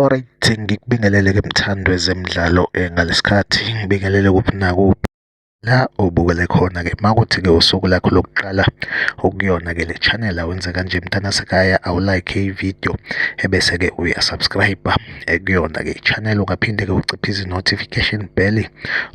Alright, ngikubingelele ke mthandwe zemidlalo eh, ngalesikhathi ngibingelele kuphi nakuphi la obukele khona ke makuthi ke usuku lakho lokuqala ukuyona ke le channel awenze kanje mntana sekhaya awulike ivideo ebese ke uyasubscribe eh, kuyona ke channel ungaphinde ke uciphe izi notification bell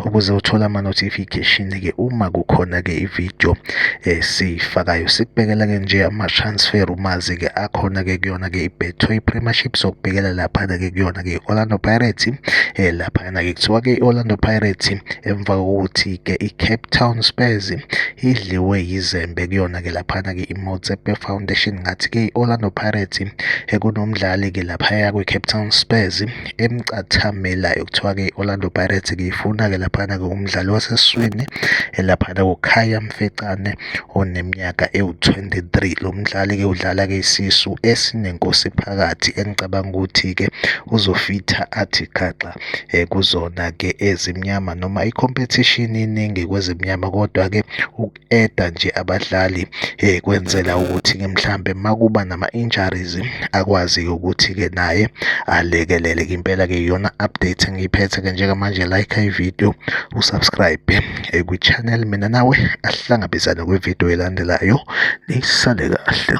ukuze uthole ama-notification-ke uma kukhona-ke i-video esiyifakayo eh, sikubekela-ke nje ama-transfer umazi-ke akhona-ke kuyona-ke i-betway premiership sokubhekela laphana-ke kuyona-ke i-orlando pirates um eh, laphana-ke kuthiwa-ke i-orlando pirates emva kokuthi-ke i-cape town spurs idliwe yizembe kuyona-ke laphana-ke i-motsepe foundation ngathi-ke i-orlando pirates ekunomdlali-ke eh, laphaya kwi-cape town spurs emcathamelayo kuthiwa-ke i-orlando pirates ngiyifuna-ke laphana kuwumdlali waseswini elaphana kukhaya mfecane oneminyaka ewu-23 lo mdlali-ke udlala-ke isisu esinenkosi phakathi engicabanga ukuthi-ke uzofitha athi gaxa um kuzona-ke ezimnyama noma ikhompethishini iningi kwezimnyama kodwa-ke eda nje abadlali eh kwenzela ukuthi ke mhlambe makuba nama injuries akwazi ukuthi ke naye alekelele impela ke iyona update engiyiphethe ke njengamanje like i video usubscribe eh, kwi channel mina nawe asihlangabezane kwi video elandelayo nisale kahle